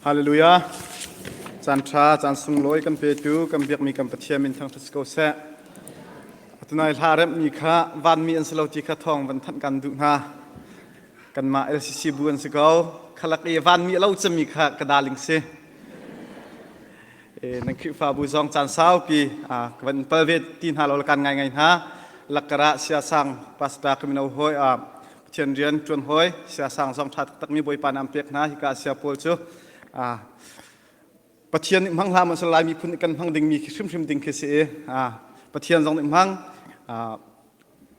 Hallelujah. Caanṭha, caan sunglawi kan petu, kan biakmi kan Pathian min thangṭhat si ko seh. Atunai hla remhmi kha vanmi an si lo ti kha thawng van thanh kan duh hna. Kanmah LCC bu an si ko. Khalak i vanmi a lo cemmi kha ka daling si. E, nan Khrihfabu zong caan saupi a ka van pal ve ti hna lo kan ngai ngai hna. Lakara siasang pastor kamino hoi a Pathian rian ṭuan hawi siasang zong ṭha taktakmi Bawipa nih an pek hna. Hika Asia pawl cu Pathian nih hmang hlam an si lai miphun nih kan hmang dingmi hrimhrim ding khi si i Pathian zong nih hmang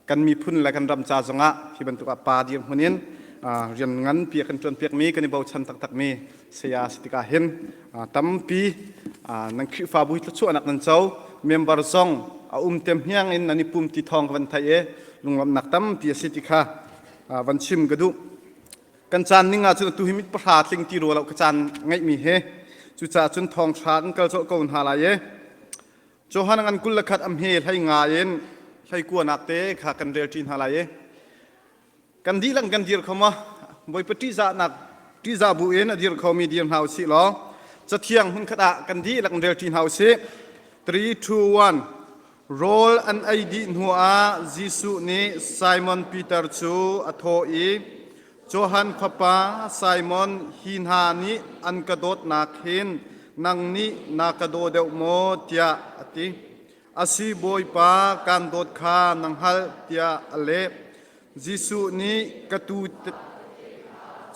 kan miphun le kan ram ca zongah hi bantuk ah pa dirhmun in rian nganpi a kan ṭuanpiakmi kan i bochan taktakmi saya si tikah hin tampi nan Khrihfabu thlachuahnak nan co member zong a um tem hniang in nan i pum ti thawng ka van thai e lunglamnak tampi a si ti kha van chim ka duh kan caan ning ahcun tu hi mit pahra tling ti ruo lo ka caan ngeihmi he cucaah cun thawng thra kan kal cawh ko hna lai e Johan an kul lakhat am he hlai nga in hlai kuanak te kha kan rel ṭi hna lai e kan dihlak kan dir kho ma bawipa ṭihzahnak ṭihzah bu in a dir khomi dir hna usih law cathiang hmunkhat ah kan dihlak in rel ṭi hna usih 3 2 1 rawl an ei dih hnuah Jesuh nih Simon Peter cu a thawh i Johan khawpa Simon hi hna nih an ka dawtnak hin nang nih na ka daw deuh maw tiah a ti. Asi Bawipa, kaan dawt kha na hngalh tiah a leh. Jesuh nih ka tu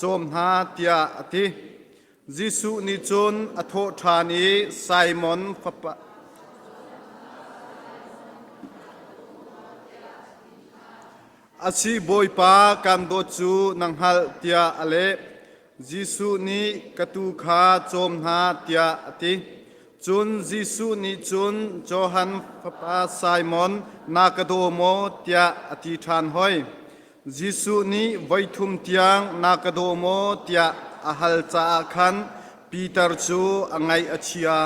cawm hna tiah a ti. Jesuh nih cun a thawh ṭhan i, Simon fapa Asi Bawipa, kaan dawt cu na hngalh tiah a leh. Jesuh nih ka tuu kha cawm hna tiah a ti. Cun Jesuh nih cun Johan fapa Simon na ka daw maw tiah a ti ṭhan hoi. Jesuh nih voi thum tiang na ka daw maw tiah a hal caah khan Peter cu a ngaih a chia.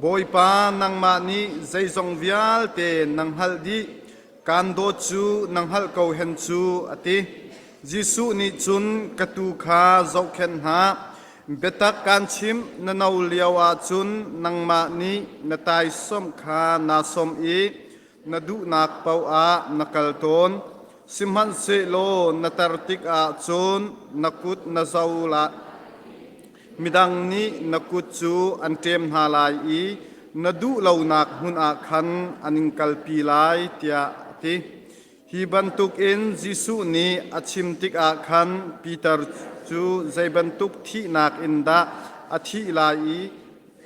Bawipa nangmah nih zeizong vialte na hngalh dih. Kaan dawt cu na hngalh ko hen cu, a ti. Jesuh nih cun, Ka tuu kha zohkhenh hna. Biatak kaan chimh, na no lioah cun nangmah nih na taisawmh kha naa sawm i na duhnak paohah na kal tawn. Sihmanhsehlaw na tar tikah cun na kut na zo lai. Midang nih na kut cu an ṭem hna lai i na duh lonak hmun ah khan an in kalpi lai, tiah a ti. Hi bantukin Jesuh nih a chim tikah khan Piter cu zei bantuk thihnak in dah a thih lai i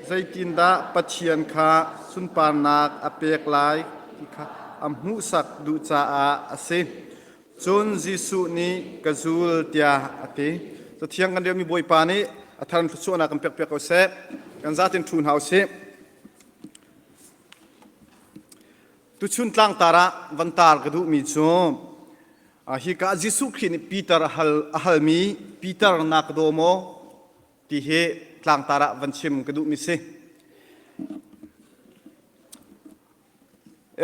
zeitindah Pathian kha sunparnak a pek lai ti kha a hmuhsak duh caah a si. Cun Jesuh nih ka zul tiah a ti. Cathiang kan riahmi Bawipa nih a thar in thluachuahnak kan pekpiak ko seh. Kan zatin ṭhu hna u sih. Tuchun tlangtar ah van tar ka duhmi cu hi ka Jesuh Khrih nih Peter a hal a halmi Peter na ka daw maw ti hi tlangtar ah van chim ka duhmi si.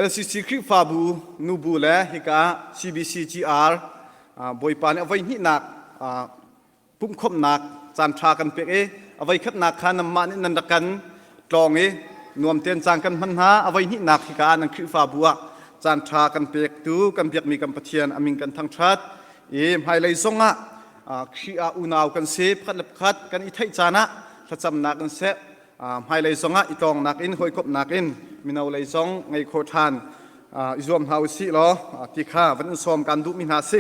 LCC Khrihfabu nubu le hika CBCGR Bawipa nih a voi hnihnak pumhkhomhnak caanṭha kan pek i a voi khatnak kha nanmah nih nan rak kan tlawng i nuamtein caan kan hman hna. A voi hnihnak hika ah nan Khrihfabu ah caanṭha kan pektu kan biakmi kan Pathian a min kan thangṭhat i hmailei zong ah Khrih ah unau kan si. Pakhat le pakhat kan i theih caan ah thlacamnak in seh, hmailei zong ah i tlawngnak in hawikomhnak in mino lei zong ngei kho ṭhan i zuam hna u sih law ti kha van in sawm kan duhmi hna si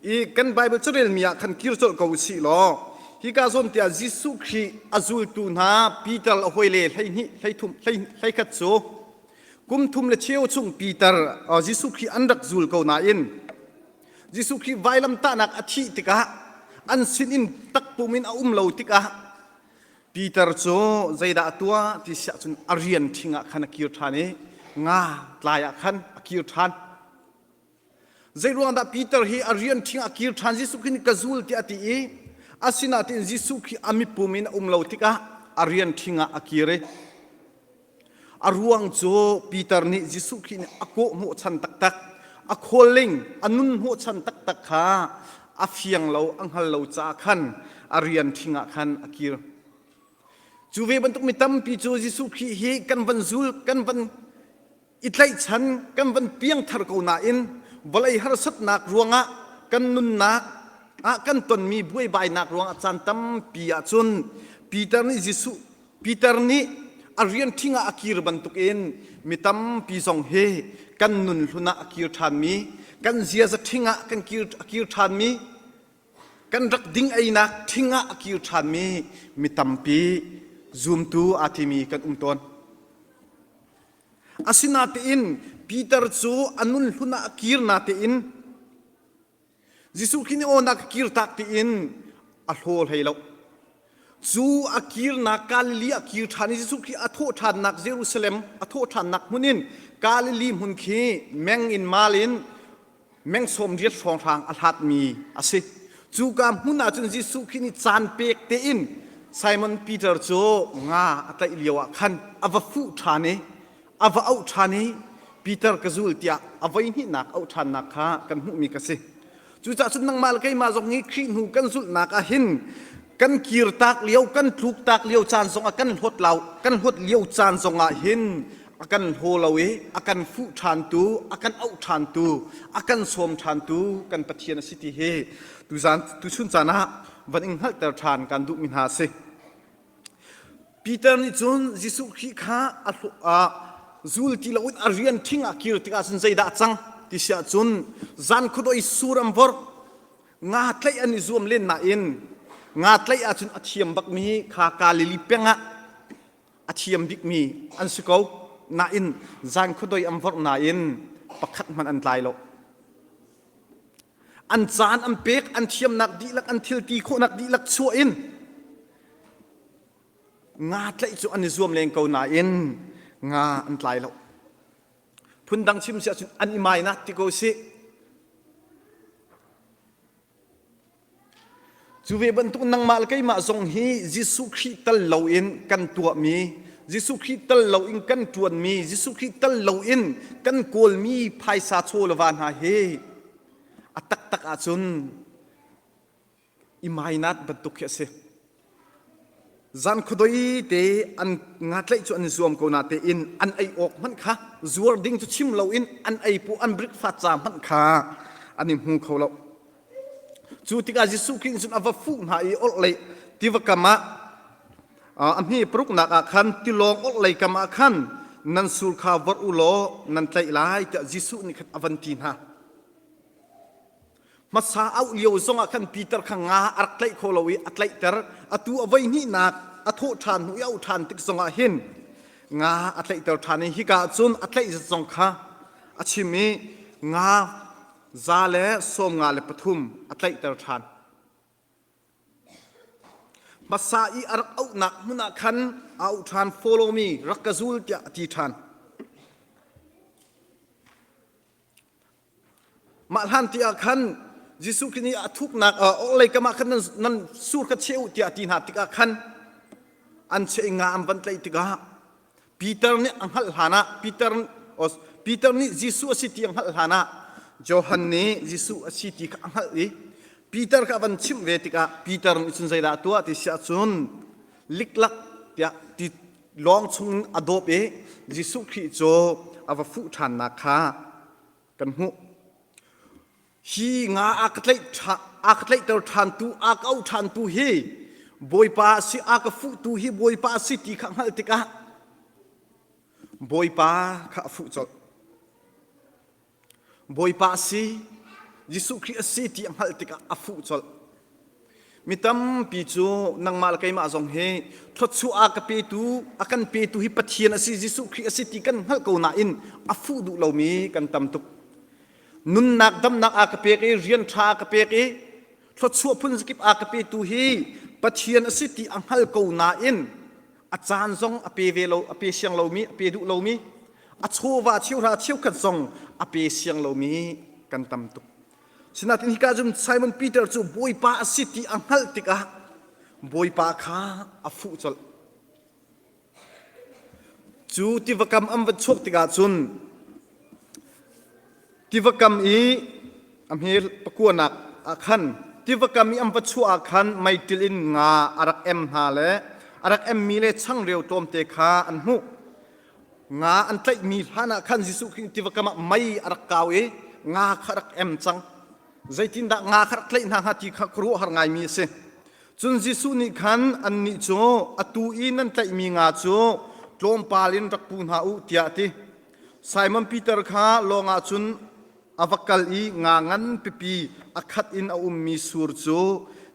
i kan Baibal carelmi ah khan kir colh ko u sih law hi ka zuamtiah Jesuh Khrih a zultu hna Peter a hawile hleihnih hleithum hleikhat cu kum thum le cheu chung Peter Jesuh Khrih an rak zul ko nain Jesuh Khrih vailamtahnak a thih tikah an sinin takpum in a um lo tikah Peter cu zeidah a tuah ti siah cun a rian ṭhing ah khan a kir ṭhan i nga tlai ah khan a kir ṭhan. Zeiruangdah Peter hi a rian ṭhing ah kir ṭhan Jesuh khin ka zul tiah a ti i a sinain Jesuh khi a mipum in a um lo tikah a rian ṭhing ah a kir i A ruang cu Peter nih Jesuh Khrih nih a kawh hmuh chan taktak, a khualling, a nun hmuh chan taktak kha a fiang lo, a hngal lo caah khan a rian ṭhing ah khan a kir. Cu ve bantuk mi tampi cu Jesuh Khrih hi kan van zul, kan van i tlaihchan, kan van piangthar ko nain vawlei harsatnak ruangah kan nunnak ah kan tonmi buaibainak ruangah caan tampi ahcun Peter nih Jesuh Peter nih a rian ṭhing ah a kir bantukin mi tampi zong hi kan nun hlun ah a kir ṭhanmi, kan ziaza ṭhing ah kan kir, a kir ṭhanmi, kan rak ding einak ṭhing ah a kir ṭhanmi mi tampi zumtu aa timi kan um tawn. Asinatein Peter cu a nun hlun ah a kir natein Jesuh khin i aawnak a kir tak tiin a hlaw hlei lo. Cu a kirnak Galilee a kir ṭhan i Jesuh Khrih a thawh ṭhannak Jerusalem a thawh ṭhannak hmun in Galilee hmun khi meng in mal in meng sawm riat hrawnghrang a hlatmi a si. Cuka hmun ahcun Jesuh Khrih nih caan pek tein Simon Peter cu nga a tlaih lioah khan a va fuh ṭhan i a va auh ṭhan i Peter ka zul tiah a voihnihnak auh ṭhannak kha kan hmuhmi ka si. Cuca'h cun nangmah le keimah zong hi Khrih hnu kan zulhnak ah hin kan kirtak lio, kan tluktak lio caan zongah kan hlawt, lau, kan hlawt lio caan zongah hin a kan hlaw lo i a kan fuh ṭhantu, a kan auh ṭhantu, a kan sawm ṭhantu kan Pathian a si ti hi tuzan tuchun caan ah van in hngalhter ṭhan kan duhmi hna a si. Peter nih cun Jesuh Khrih kha a hlawh ah zul ti loin a rian ṭhing ah kir tikah cun zeidah cang ti siah cun zan khuadawih sur an vorh nga tlaih an i zuam len nain nga tlaih ahcun a thiam bakmi kha Galilee peng ah a thiam bikmi an si ko nain zan khuadoi an vorh nain pakhat hmanh an tlai lo. an caan an pek an thiamnak dihlak an thilti khawhnak dihlak chuah in nga tlaih cu an i zuam leng ko nain nga an tlai lo phundang chim si ahcun an i mai na ti ko si Cu ve bantuk nangmah le keimah zong hi Jesuh Khrih tal loin kan tuahmi, Jesuh Khrih tal loin kan ṭuanmi, Jesuh Khrih tal loin kan kawlmi phaisa chawleva hna hi a taktak ahcun i mainat bantuk khi a si. zan khuadoi te an nga tlaih cu an i zuam ko na tein an ei awk hmanh kha zuar ding cu chim lo in an ei pu an breakfast ca hmanh kha an i hmu kho lo cu tikah Jesuh Khrih cun a va fuh hna i orhlei tiva kam ah a hni paruknak ah khan tilawng orhlei kam ah khan nan sul kha vorh u law nan tlaih lai tiah Jesuh nih khan a van ti hna hmasa auh lio zongah khan Peter kha nga a rak tlaih kho lo i a tlaihter atu a voi hnihnak a thawh ṭhan hnu i auh ṭhan tik zongah hin nga a tlaihter ṭhan i hika ah cun a tlaih zat zong kha a chim i nga za le sawm nga le pathum a tlaihter ṭhan hmasa i a rak auhnak hmun ah khan a auh ṭhan follow me rak ka zul tiah a ti ṭhan Mah hlanti ah khan Jesuh Khrih nih a thuknak a orhlei kamah khan nan, nan sur kha cheh u tiah a ti hna tikah khan an cheh nga an van tlaih tikah Peter nih a hngalh hlanah Peter Peter nih Jesuh a si ti a hngalh hlanah Johan nih Jesuh a si ti kha a hngalh i Peter kha a van chimh ve tikah Peter nih cun zeidah a tuah ti siah cun liklak tiah ti lawng chung a dawp i Jesuh Khrih cu a va fuh ṭhannak kha kan hmuh. Hi nga a ka tlaih a ka tlaihter ṭhantu a ka auh ṭhantu hi Bawipa a si, a ka fuhtu hi Bawipa a si ti kha hngalh tikah Bawipa kha a fuh colh. Bawipa a si, Jesuh Khrih a si ti a hngalh tikah a fuh colh. Mi tampi cu nangmah le keimah zong hi thluachuah a ka petu a kan petu hi Pathian a si, Jesuh Khrih a si ti kan hngalh ko nain a fuh duh lomi kan tam tuk. Nunnak damnak a ka pek i rian ṭha a ka pek i thluachuah phun zakip a ka petu hi Pathian a si ti a hngal ko nain a caan zong a pe ve lo a pe siang lomi a pe duh lomi a chawva cheuhra cheukhat zong a pe siang lomi kan tam tuk sinain hika cun Simon Peter cu Bawipa a si ti a hngalh tikah Bawipa kha a fuh colh cu tiva kam an van chuak tikah cun tiva kam i a hme pakuanak ah khan tiva kam i an va chuah ah khan meiṭil in nga a rak em hna le a rak emmi le changreu tlawmte kha an hmuh. Nga an tlaihmi hlanah khan Jesuh Khrih tiva kam ah mei a rak kau i nga kha rak em cang. Zeitindah nga kha rak tlaih hna hnga ti kha khuaruahhar ngaimi a si. Cun Jesuh nih khan annih cu atu i nan tlaihmi nga cu tlawmpal in rak pu hna u tiah a ti. Simon Peter kha lawngah cun a va kal i nga ngan pipi a khat in a ummi sur cu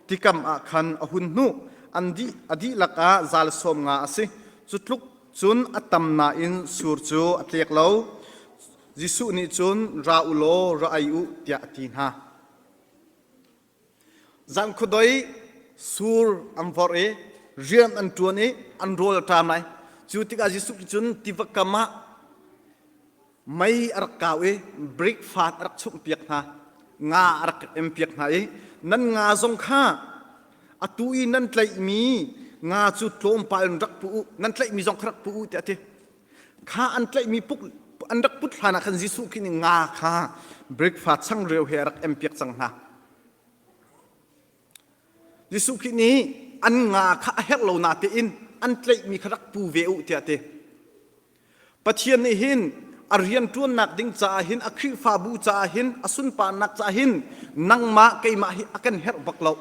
tikam ah khan a hun hnuh. An dih a dihlak ah zal sawm nga a si. Cu tluk cun a tam nain sur cu a tlek lo. Jesuh nih cun ra u law ra ei u tiah a ti hna. Zan khuadoi sur an vorh i rian an ṭuan i an rawl a ṭam lai. Cu tikah Jesuh nih cun tiva kam ah mei a rak kau i brick fat a rak chumhpiak hna, nga a rak empiak hna i nan nga zong kha atu i nan tlaihmi nga cu tlawmpal in rak pu u, nan tlaihmi zong kha rak pu u tiah a ti. Kha an tlaihmi puk an rak put hlan ah khan Jesuh khin i nga kha breakfast changreu he a rak empiak cang hna. Jesuh khin nih an nga kha a herh lo natein an tlaihmi kha rak pu ve u tiah ti. Pathian nih hin a rian ṭuannak ding caah hin a Khrihfabu caah hin a sunparnak caah hin nangmah keimah hi a kan herh bak loh.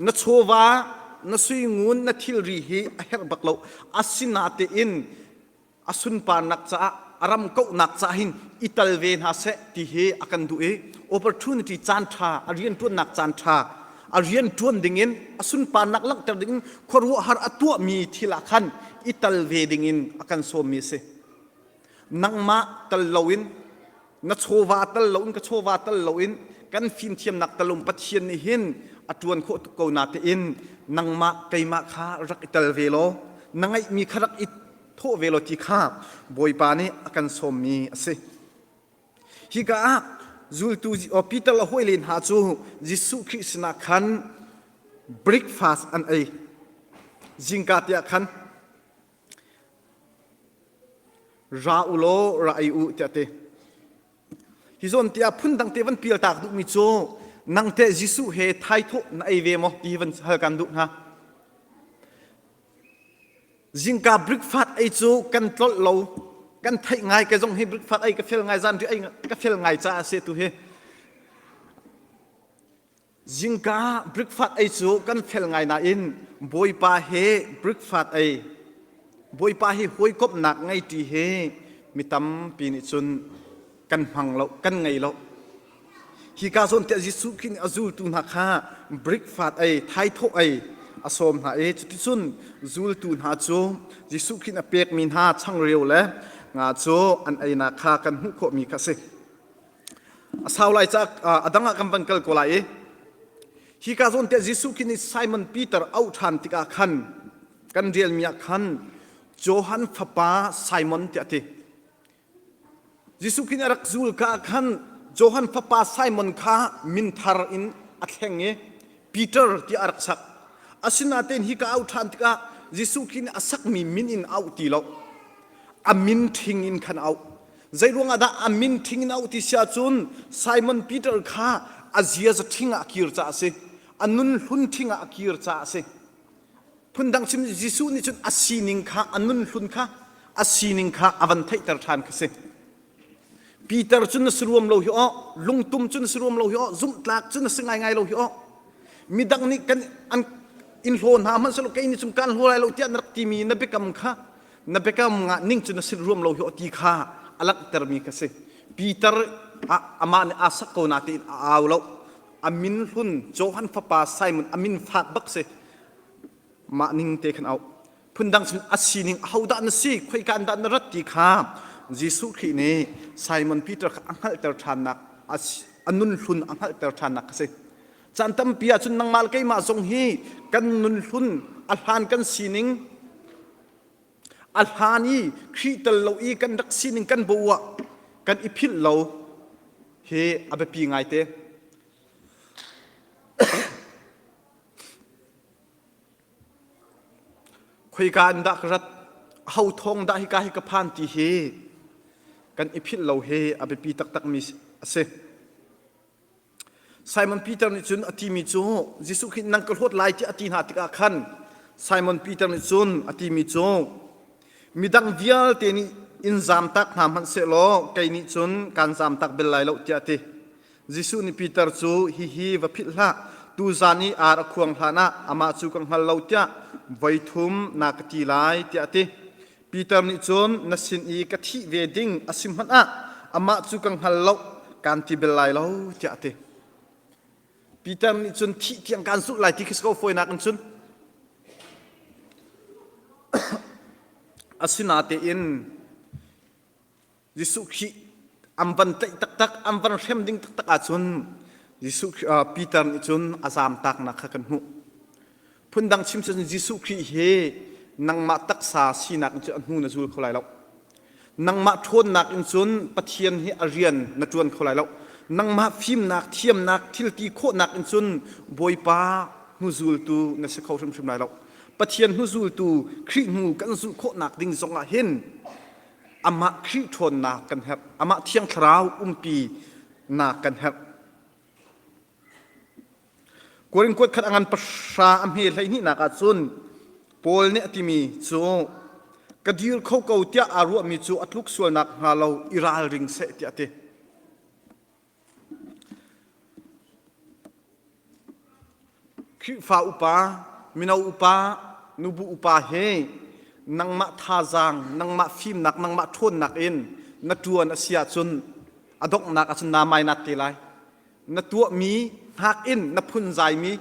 na chawva na suingun na thilri hi a herh bak lo asinatein a sunparnak caah a ram kauhnak caah hin i tal ve hna seh ti hi a kan duh i opportunity caan ṭha a rianṭuannak caan ṭha a rian ṭuan dingin a sunparnak langhter dingin khuaruahhar a tuahmi thil ah khan i tal ve dingin a kan sawmmi a si nangmah tal loin na chawva tal lo in ka chawva tal lo in kan fimthiamnak talum pathian nih hin a ṭuan khawh tuk ko na tein nangmah keimah kha rak i tel ve law na ngeihmi kha rak i thawh ve law ti kha bawipa nih a kan sawmmi a si hika ah zultu Peter le hawile hna cu Jesuh Khrih sinah khan breakfast an ei zingka tiah khan ra u law ra ei u tiah ti hi zawn tiah phundang te van pial tak duhmi cu nang teh Jesuh he thaithawh na ei ve maw ti van hal kan duh hna zingka breakfast ei cu kan tlolh lo kan theih ngai ka zong hi breakfast ei ka fel ngai zan ri ei ka fel ngai caah se tu hi Zingka breakfast ei cu kan fel ngai nain Bawipa he breakfast ei Bawipa hi hawikomhnak ngeiṭi he mi tampi nih cun kan hmang lo kan ngei lo hika zawntiah Jesuh Khrih nih a zultu hna kha breakfast ei thaithawh ei a sawm hna i cuticun zultu hna cu Jesuh Khrih nih a pekmi hna changreu le nga cu an einak kha kan hmuh khawhmi kha a si. A sau lai cak a dang ah kan van kal ko lai i hi ka zawn tiah Jesuh khi nih Simon Peter auh ṭhan tikah khan kan rialmi ah khan Johan fapa Simon tiah a ti. Jesuh khi nih a rak zul ka khan Johan fapa Simon kha minthar in a thleng i Peter tiah a rak sak. Asinatein hi ka auh ṭhan tikah Jesuh khi nih a sakmi min in auh ti lo. A min ṭhing in khan auh. Zeiruangah dah a min thing in auh ti si ahcun Simon Peter kha a ziaza thing ah a kir caah a si. A nun hlun thing ah a kir caah a si. Phundang sim Jesuh nih cun a sining kha a nun hlun kha a sining kha a van theihter ṭhan kha si. Peter cu na si ruam lo hi aw, lungtum cu na si ruam lo hi aw, zumhtlak cu na si ngaingai lo hi aw. Midang nih kan an in hlaw hna hmanh selaw kei nih cum kaan hlaw lai lo tiah na rak timi na biakam kha na biakam ngah ning cu na sin ruam lo hi ti kha a langhtermi ka si Peter ah amah nih aa sak ko na tiin a au lo a min hlun Johan fapa Simon a min fak bak si mah ning te khan au phundang sin a sining a hodah na si khoi kan dah na rat ti kha Jesuh Khrih nih Simon Peter kha a hngalhter ṭhannak a nun hlun a hngalhter ṭhannak ka si can tampi ahcun nangmal keimah zong hi kan nun hlun a hlan kan sining a hlan i Khrih tel lo i kan rak sining kan boh ah kan i philh lo hi a biapi ngaite. Khoika in dah ka rat ho thong dah hika hi ka phan ti hi kan i philh lo hi a biapi taktakmi a si. Simon Peter nih cun a timi cu Jesuh khi nang ka hlawt lai ti a ti hna tikah khan Simon Peter nih cun a timi cu midang vialte nih in zamtak hna hmanh sehlaw kei nih cun kaan zamtak bel lai lo tiah a ti. Jesuh nih Peter cu hihi va philh hlah tuzan i ar a khuang hlanah amah cu ka hngal lo tiah voi thum na ka ti lai tiah a ti. Peter nih cun na sin i ka thih ve ding a si hmanh ah amah cu ka hngal lo kaan ti bel lai lo tiah a ti. Peter nih cun thih tiang kaan zulh lai ti khi ko fawinak in cun asinatein Jesuh khi an van tlaih taktak an van hrem ding taktak ahcun Jesuh Peter nih cun a zaamtaknak kha kan hmuh phundang chim cun Jesuh Khrih hi nangmah taksa sinak in cu a hnu na zul kho lai lo nangmah ṭhawnnak in cun Pathian hi a rian na ṭuan kho lai lo nangmah fimnak thiamnak thilti khawhnak in cun Bawipa hnuzultu na si kho hrimhrim lai lo Pathian hnuzultu Khrih hnu kan zulh khawhnak ding zongah hin amah Khrih ṭhawnnak kan herh, amah thiang thlarau umpi nak kan herh. Korin kuat khat a ngan pahra a hme hleihnih ah cun Paul nih a timi cu ka dir kho ko tiah aa ruahmi cu a tluk sual nak hnga lo i ralring seh tiah a ti. Khrihfa upa, mino upa, nubu upa he nangmah thazaang, nangmah fimnak, nangmah ṭhawnnak in na ṭuan a si ahcun a donghnak ahcun naa mainat te lai. Na tuahmi hngak in na phunzaimi,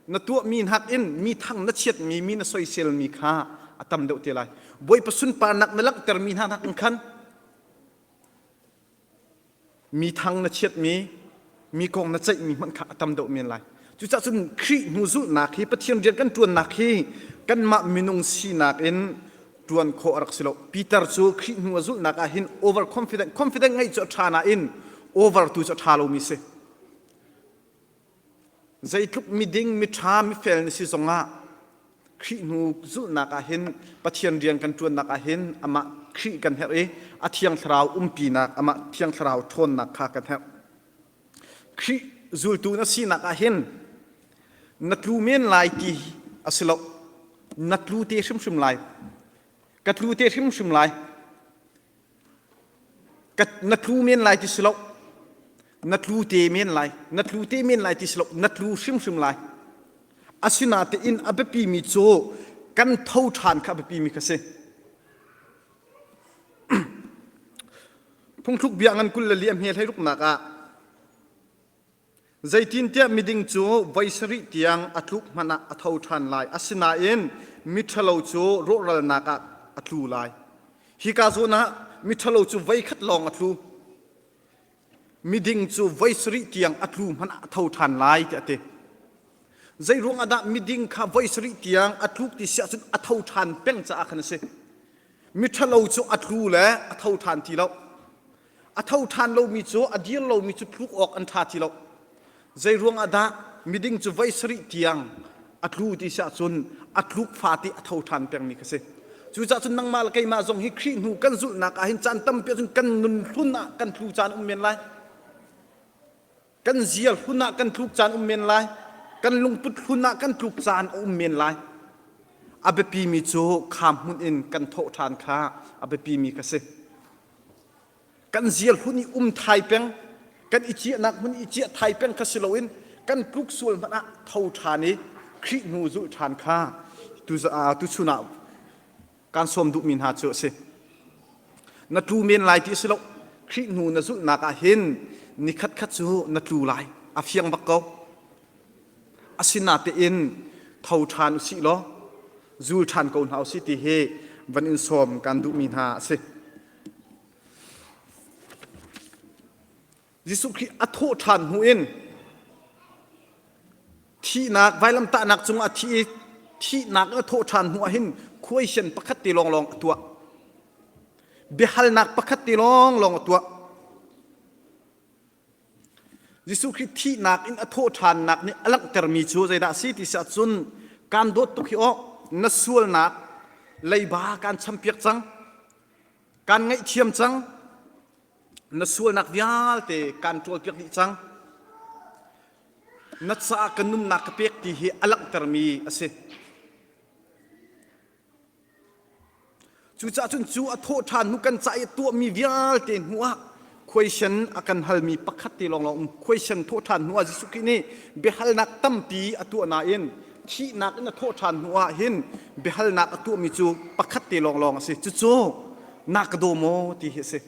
na tuahmi hngak in mi thang na chiatmi, mi na soiselmi kha a tam deuh te lai. Bawipa sunparnak na langhtermi hna nakin khan mi thang na chiatmi mi kong na ceihmi hmanh kha a tam deuh men lai cucah cun Khrih hnu zulhnak hi Pathian rian kan ṭuannak hi kanmah minung sinak in ṭuan khawh a rak si lo Peter cu Khrih hnu a zulhnak ah hin over confident confident ngeih cu a ṭha nain over tu cu a ṭha lomi si Zeitluk miding miṭha mifel na si zongah Khrih hnu zulhnak ah hin Pathian rian kan ṭuannak ah hin amah Khrih kan herh i a thiang thlarau umpinak amah thiang thlarau ṭhawnnak kha kan herh. Khrih zultu na sinak ah hin na tlu men lai ti a si lo. Na tlu te hrimhrim lai. Ka tlu te hrimhrim lai. na tlu men lai ti si lo na tlu te men lai na tlu te men lai ti si lo na tlu hrimhrim lai asinatein a biapi mi cu kan tho ṭhan kha a biapi mi kha si phungthluk bia ngan kul le liam he hlei ruknak ah Zeitintiah miding cu voi sarih tiang a tluk hmanh ah a tho ṭhan lai, asinain miṭhalo cu rawhralnak ah a tlu lai. Hika zawn ah miṭhalo cu voikhat lawng a tlu. Miding cu voi sarih tiang a tlu hmanh ah a tho ṭhan lai, tiah a ti. Zeiruang ah dah miding kha voi sarih tiang a tluk ti si ahcun a tho ṭhan peng caah khan a si. Miṭhalo cu a tlu le a tho ṭhan ti lo. A tho ṭhan lomi cu a dir lomi cu phluk awk an ṭha ti lo. Zei ruangah dah miding cu voi sarih tiang a tlu ti si ahcun a tluk fate a tho ṭhan pengmi kha si. Cucaah cun nangmah le keimah zong hi Khrih hnu kan zulhnak ah hin caan tampi ahcun kan nun hlun ah kan tlu caan um men lai. kan ziar hlun ah kan tluk caan um men lai kan lungput hlun ah kan tluk caan a um men lai a biapimi cu kham hmun in kan thawh ṭhan kha a biapimi ka si kan ziar hlun i um thai peng kan i ciahnak hmun i ciah thai peng kha si loin kan tluk sual hmanh ah tho ṭhan i Khrih hnu zulh ṭhan kha tu chun ah kan sawm duhmi hna cu a si na tlu men lai ti a si lo Khrih hnu na zulhnak ah hin ni khatkhat cu na tlu lai a fiang bak ko asinatein tho ṭhan usih law zul ṭhan ko hna usih ti hi van in sawm kan duhmi hna a si Jesuh Khrih a thawh ṭhan hnu in thihnak vailamtahnak cungah thi i thihnak a thawh ṭhan hnu ah hin khuaisian pakhat te lawnglawng a tuah. Biahalnak pakhat te lawnglawng a tuah. Jesuh Khrih thihnak in a thawh ṭhannak nih a langhtermi cu zeidah a si ti si ahcun kaan dawt tuk hi awh na sualnak leiba kaan champiak cang kaan ngaihthiam cang na sualnak vialte kan ṭawlpiak dih cang. Na caah ka nunnak ka pek ti hi a langhtermi a si. Cucaah cun cu a thawh ṭhan hnu kan cah i tuahmi vialte hnuah question a kan halmi pakhat te lawng lawng um. Question thawh ṭhan hnuah Jesuh Khrih nih biahalnak tampi a tuah nain thihnak in a thawh ṭhan hnuah hin biahalnak a tuahmi cu pakhat te lawnglawng a si. Cucu na ka daw maw ti hi a si.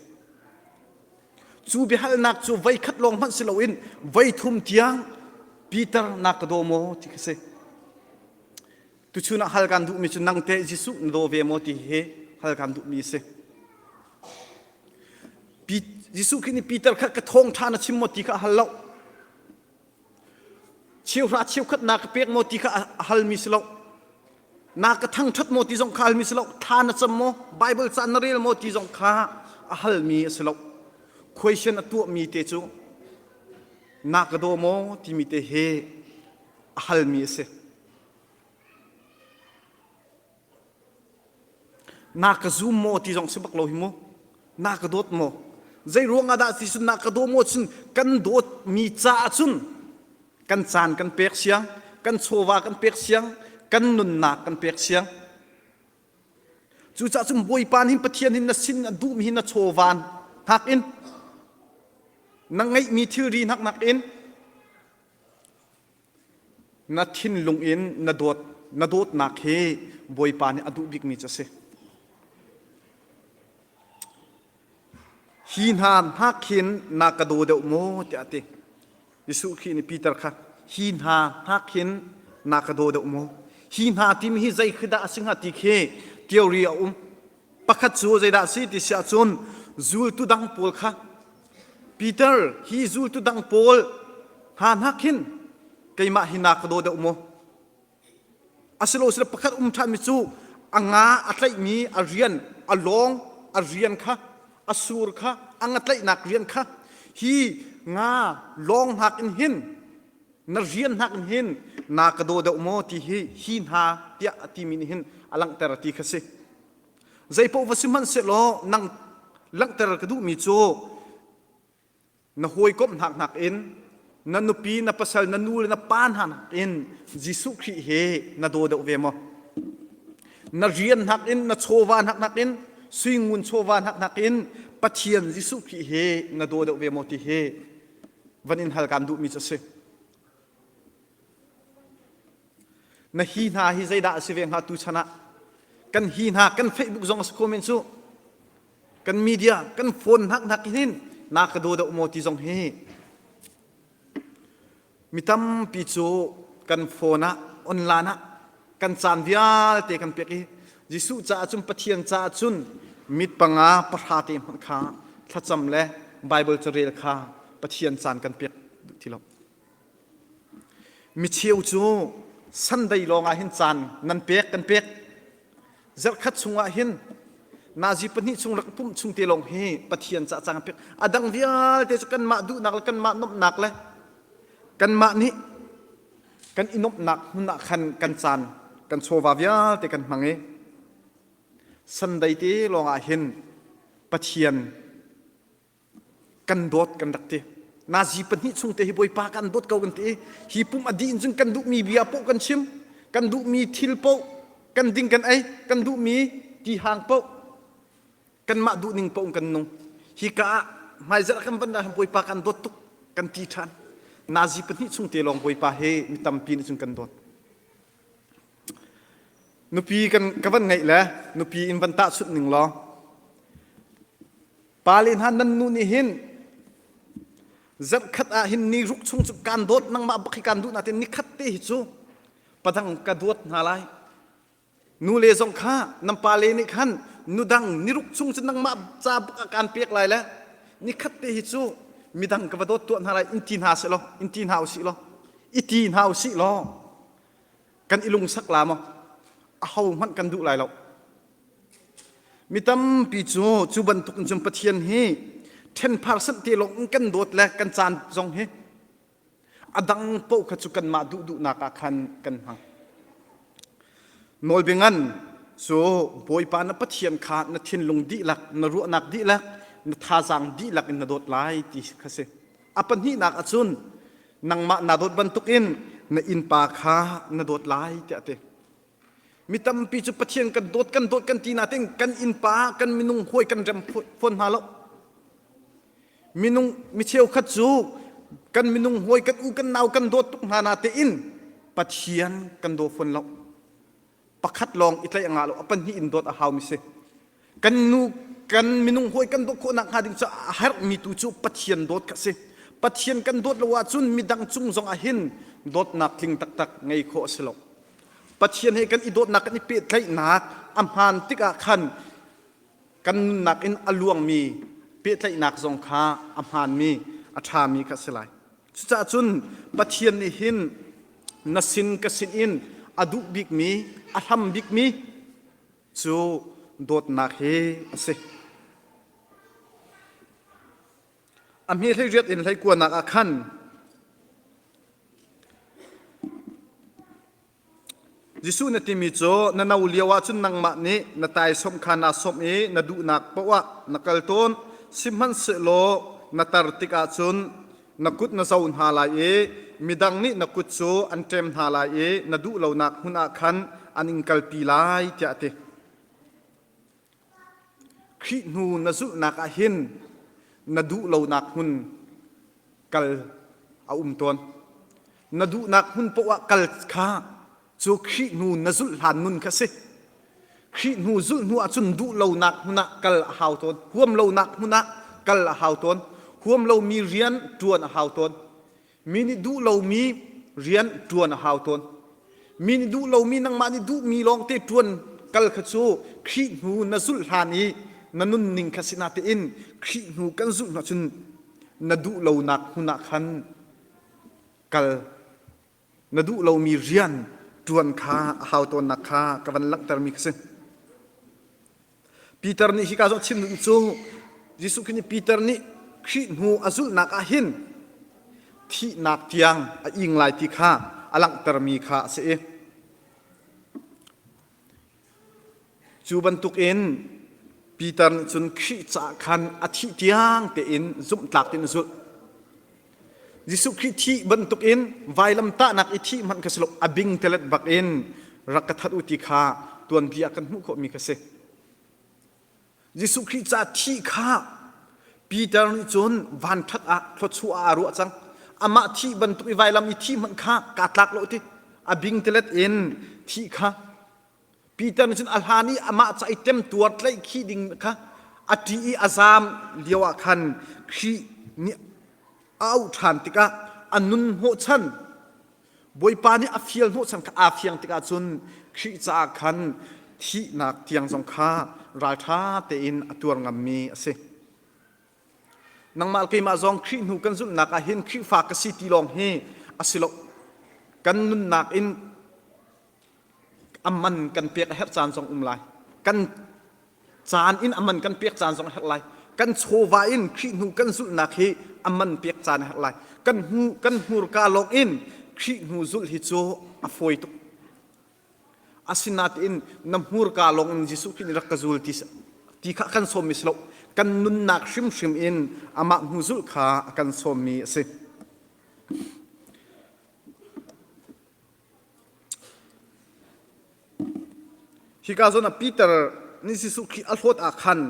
Cu biahalnak cu voi khat lawng hmanh si loin voi thum tiang Peter na ka daw maw ti khi si. Tuchun ah hal kan duhmi cu nang teh Jesuh na daw ve maw ti hi hal kan duhmi a si. Jesuh khi nih Peter kha ka thawng ṭhan a chim maw ti kha hal lo. Cheuhra cheukhat na ka pek maw ti kha a halmi si lo. Na ka thangṭhat maw ti zong kha halmi si lo. Thla na cam maw? Baibal caan na rel maw ti zong kha a halmi si lo. Question a tuahmi te cu na ka daw maw timi te he a halmi a si. Na ka zum maw ti zong si bak lo hi mu. Na ka dawt maw? Zei ruang ah dah ti cun na ka daw maw cun kan dawt mi ca ah cun kan caan kan pek siang, kan chawva kan pek siang, kan nunnak kan pek siang. Cucaah cun Bawipa hin Pathian hin na sin na duh mi hi na chawvan hak in na ngeih mi thilri hnak nak in Na thinlung in na dawt na dawtnak hi Bawipa nih a duh bikmi cu a si. Hi hna hna khin na ka daw deuh maw tiah a ti. Jesuh Khrih nih Peter kha hi hna hna khin na ka daw deuh maw? Hi hna timi hi zei khi dah a si hnga ti khi theory a um. Pakhat cu zeidah a si ti si ahcun zultu dang pawl kha Peter hi zultu dang pawl hna hnak khin keimah hi na ka daw deuh maw? Asiloasile pakhat um ṭhanmi cu a nga a tlaihmi a rian, a lawng, a rian kha, a sur kha, a nga tlaihnak rian kha hi nga lawng hnak in hin na rian hnak in hin na ka daw deuh maw ti hi hi hna tiah a timi nih hin a langhter ti kha si. Zeipaoh va si hmanhsehlaw nang langhter ka duhmi cu na hawikomh hnak nakin na nupi, na pasal, na nu le na pa hna nakin Jesuh Khrih he na daw deuh ve maw? Na rian nakin, na chawva hnak nakin, suingun chawva hnak nakin Pathian Jesuh Khrih he na daw deuh ve maw ti hi van in hal kaan duhmi cu a si. Na hi hna hi zeidah a si ve hnga tu chan ah kan hi hna kan Facebook zong a si ko men cu kan media kan phone hnak hnak hin na ka do deuh maw ti zong hi mi tampi cu kan phone ah online ah kan caan vialte kan pek i Jesuh caah cun Pathian caah cun mit panga pahra te hmanh kha thlacam le Bible carel kha Pathian caan kan pek duh ti lo Micheu cu Sunday lawng ah hin caan nan pek kan pek. Zarhkhat chungah hin nazi pahnih chung rak pumh chung te lawng hi Pathian ca cang pek a dang vialte cu kanmah duhnak le kanmah nomhnak le kanmah nih kan i nomhnak hmun ah khan kan caan kan chawva vialte kan hmang i Sunday te lawngah hin Pathian kan dawt kan rak ti nazi pahnih chung te hi bawipa kan dawt ko kan ti hi pum adi in cun kan duhmi bia poh kan chim kan duhmi thil poh kan ding kan ei kan duhmi ti hang poh kan mah duh ning poh kan nung hi ka ah hmaizal kan ban ah bawipa kan dawt tuk kan ti than nazi pahnih chung te lawng bawipa he mi tampi nih cun kan dawt Nupi ka van ngeih le nupi in van tahchunh ning law pale hna nan nu nih hin zarhkhat ah hin ni ruk chung cu kaan dawt nangmah bak hi kaan duh natin nikhat te hi cu padang ka duat hna lai nule zong kha nan pale nih khan nudang niruk chung cu nangmah ca bak ah kaan pek lai le nikhat te hi cu midang ka va dawt tuah hna lai in ti hna si law in ti hna u si law i ti hna u sih law kan i lungsak la maw a ho hmanh kan duh lai lo mi tampi cu cu bantuk in cun pathian hi thenphar sanh te lawng in kan dawt le kan caan zong hi a dang paoh kha cu kanmah duh duhnak ah khan kan hmang nawlbia ngan cu bawipa na pathian kha na thinlung dihlak na ruahnak dihlak na thazaang dihlak in na dawt lai ti kha si a pahnihnak ahcun nangmah na dawt bantukin na innpa kha na dawt lai tiah a ti mi tampi cu pathian kan dawt kan dawt kan ti natin kan innpa kan minung huai kan rem fawn hna lo minung mi cheukhat cu kan minung huai kan u kan nau kan dawt tuk hna na tein pathian kan daw fawn lo pakhat lawng i tlaih a ngah lo a pahnih in dawt a haumi si kan nu kan minung hawi kan dawt khawhnak hnga ding cu a herhmi tu cu pathian dawt ka si pathian kan dawt lo ahcun midang cung zong ah hin dawtnak tling taktak ngei khawh a si lo pathian he kan i dawtnak kan i pehtlaihnak a hmaan tikah khan kan nunnak in a luangmi pehtlaihnak zong kha a hmaanmi a ṭhami kha a si lai. Cucaah cun Pathian nih hin na sin ka sin in a duh bikmi, a hlam bikmi cu dawtnak hi a si. A hme hleiriat in hleikuanak ah khan Jesuh na timi cu na no lio ahcun nangmah nih na taisawm kha naa sawm i na duhnak paoh ah na kal tawn. Sihmanhsehlaw na tar tikah cun na kut na zo hna lai i midang nih na kut cu an ṭem hna lai i na duh lonak hmun ah khan an in kalpi lai, tiah a ti. Khrih hnu na zulhnak ah hin na duh lonak hmun kal a um tawn. Na duhnak hmun poah kal kha cu Khrih hnu na zulh hlan nun kha si. Khrih hnu zulh hnu ahcun duh lonak hmun ah kal a hau tawn. Huam lonak hmun ah kal a hau tawn. Huam lomi rian ṭuan a hau tawn. Mi nih duh lomi rian ṭuan a hau tawn. Mi nih duh lomi nangmah nih duhmi lawngte ṭuan kal kha cu Khrih hnu na zulh hlan i na nunning kha sinah tein Khrih hnu kan zulh hna cun na duh lonak hmun ah khan kal na duh lomi rian ṭuan kha a hau tawnnak kha ka van langhtermi kha si. Peter nih hika zoh chim ding cu Jesuh Khrih nih Peter nih Khrih hnu a zulhnak ah hin thihnak tiang a ing lai ti kha a langhtermi kha a si i cu bantukin Peter nih cun Khrih caah khan a thih tiang tein zumhtlak tein a zulh. Jesuh Khrih thih bantukin vailamtahnak i thih hmanh kha si lo a bing telet bak in rak ka that u ti kha tuanbia kan hmuh khawhmi kha si. Jesuh Khrih ca thih kha Peter nih cun vanṭhat ah thluachuah ah a ruah cang. Amah thi bantuk i vailam i thi hmanh kha kaa tlak lo ti a bing telet in thi kha Peter nih cun a hlan i amah cu ai temtuar tlaih khi ding kha a ṭi i a zaam lio ah khan Khrih nih a auh ṭhan tikah a nun hnawhchan Bawipa nih a fial hnawhchan kha aa fiang tikah cun Khrih caah khan thihnak tiang zong kha ralṭha tein a tuar ngammi a si. Nangmah keimah zong Khrih hnu kan zumhnak ah hin Khrihfa ka si ti lawng hi a si lo. Kan nunnak in a man kan pek a herh caan zong um lai kan caan in a man kan pek caan zong a herh lai kan chawva in Khrih hnu kan zulhnak hi a man pek caan a herh lai kan hnu kan hnurka lawng in Khrih hnu zulh hi cu a fawi tuk asinain na hmurka lawng in Jesuh Khrih nih rak ka zul ti ti kha kan sawm mi si lo kan nunnak hrimhrim in amah hnu zulh kha kan sawm mi a si Hika zon ah Peter nih Jesuh Khrih a hlawt ah khan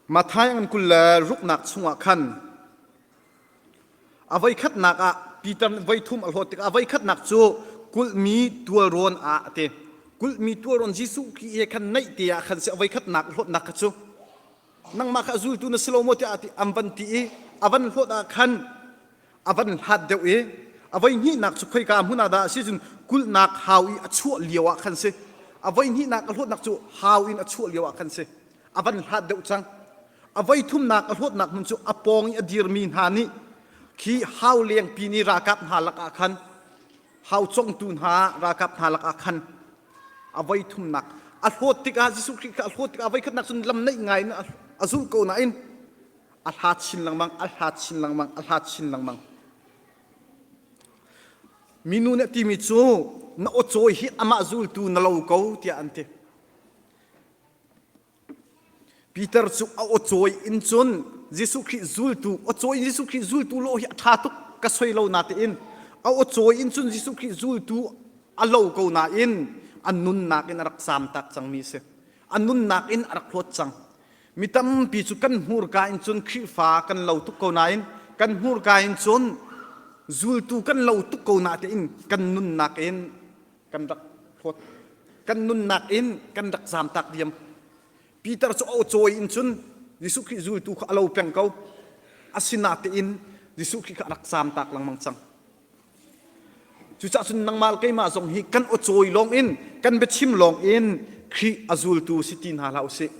Matthai ngan kul le ruknak chungah khan a voikhatnak ah Peter nih voithum a hlawt tikah a voikhatnak cu kulhmi tualrawn ah a ti. Kulhmi tualrawn Jesuh Khrih he khan naih te ah khan si a voikhatnak hlawtnak kha cu nangmah kha a zultu na si lo maw tiah an van ti i a van hlawt ah khan a van hlat deuh i a voi hnihnak cu khoika hmun ah dah a si cun kulhnak hau i a chuah lio ah khan si a voi hnihnak a hlawtnak cu hau in a chuah lio ah khan si a van hlat deuh cang a voi thumnak a hlawtnak hmun cu a pawng i a dirmi hna nih khi hau lengpi ni ralkap hna lakah khan hau congtu hna ralkap hna lakah khan a voi thumnak a hlawt tikah Jesuh Khrih kha a hlawt tikah a voi khatnak cun lam neih ngai in a zulh ko nain a hla chin lengmang a hla chin lengmang a hla chin lengmang minu nih timi cu na aw cawi hi amah zultu na lo ko tiah an ti Peter cu a aw cawi in cun Jesuh Khrih zultu aw cawi in Jesuh Khrih zultu lo hi a ṭha tuk ka soi lo natein a aw cawi in cun Jesuh Khrih zultu a lo ko nain a nunnak in a rak zamtak cangmi a si. A nunnak in a rak hlawt cang. Mi tampi cu kan hmurka in cun Khrihfa kan lo tuk ko nain kan hmurka in cun zultu kan lo tuk ko natein kan nunnak in kan rak hlawt kan nunnak in kan rak zamtak diam Peter cu o cawi in cun Jesuh Khrih zultu kha a lo peng ko asinatein Jesuh Khrih kha a rak zamtak lengmang cang cucah cun nangmah keimah zong hi kan o cawi lawng in kan biachim lawng in Khrih a zultu si ti hna hlah usih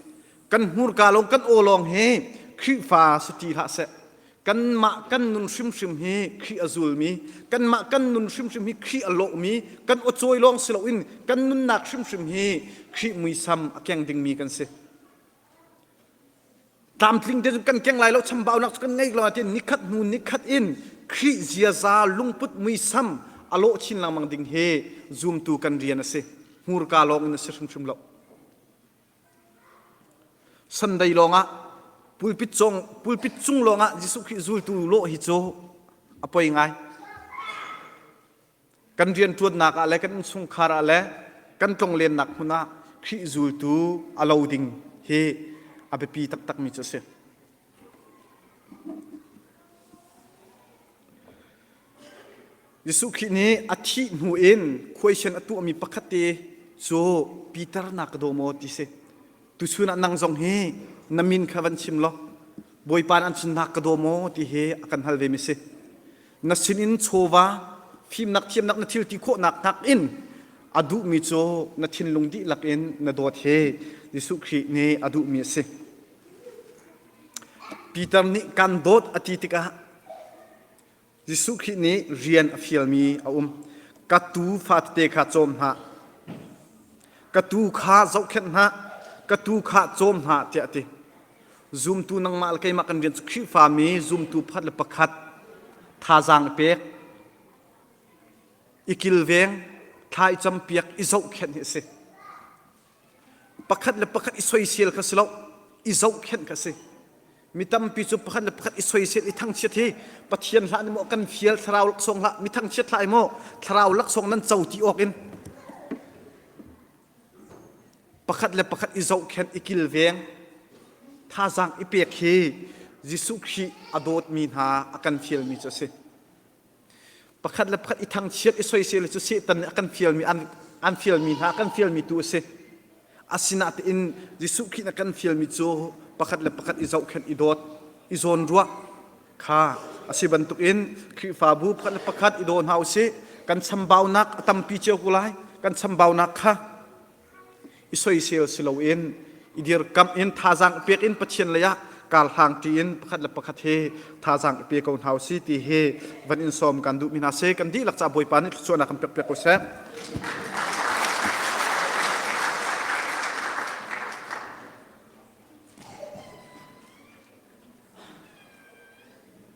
kan hmurka lawng kan aw lawng hi Khrihfa si ti hlah seh kanmah kan nun hrimhrim hi Khrih a zulmi, kanmah kan nun hrimhrim hi Khrih a lawhmi, kan awcawi lawng si loin kan nunnak hrimhrim hi Khrih muisam a keng dingmi kan si. Tlamtling te kan keng lai lo chambaunak cu kan ngeih lo ahtiin nikhat hnu nikhat in Khrih ziaza lungput muisam a lawh chin lengmang ding hi zumtu kan rian a si. Hmurka lawng in a si hrimhrim lo. Sunday lawngah pulpit, cong, pulpit cung lawngah Jesuh Khrih zultu lawh hi cu a poi ngai. Kan rian ṭuannak ah le kan innchungkhar ah le kan tlonglennak hmun ah Khrih zultu a lo ding hi a biapi taktakmi cu a si. Jesuh Khrih nih a thih hnu in khuaisen a tuahmi pakhatte cu Peter na ka daw maw ti si. Tuchun ah nang zong hi na min kha van chim law Bawipa nih an sin na ka daw maw ti hi a kan hal vemi si. Na sinin chawva fimnak thiamnak na thil ti khawhnak nakin a duhmi cu na thinlung dihlak in na dawt hi Jesuh Khrih nih a duhmi a si. Peter nih kan dawt a ti tikah Jesuh Khrih nih rian a fialmi a um. Ka tuu fate kha cawm hna. Ka tuu kha zohkhenh hna. Ka tuu kha cawm hna tiah a ti. Zumtu nangmah le keimah kan rian cu Khrihfami zumtu pakhat le pakhat thazaang i pek, i kilveng, thla i campiak, i zohkhenh hi a si. Pakhat le pakhat i soisel kha si lo, i zohkhenh kha si. Mi tampi cu pakhat le pakhat i soisel i thangchiat hi Pathian hlah ni maw kan fial thlarau laksawng hlah mi thangchiat hlah maw thlarau laksawng nan co ti awk in pakhat le pakhat i zohkhenh i kilveng thazaang i pek hi Jesuh Khrih a dawtmi hna a kan fialmi cu a si. pakhat le pakhat i thangchiat i soisel cu Satan nih a kan fialmi an, an fialmi hna kan fialmi tu a si asinain Jesuh Khrih na kan fialmi cu pakhat le pakhat i zohkhenh i dawt i zawn ruah kha a si bantukin Khrihfabu pakhat le pakhat i daw hna u sih kan chambaunak a tampi cio ko lai kan chambaunak kha i soisel si loin i dirkamh in thazaang pek in Pathian lei ah karhlang ṭi in pakhat le pakhat hi thazaang i pe ko hna usih ti hi van in sawm kan duhmi hna si kan dihlak ca Bawipa nih thluachuahnak kan pek piak ko seh.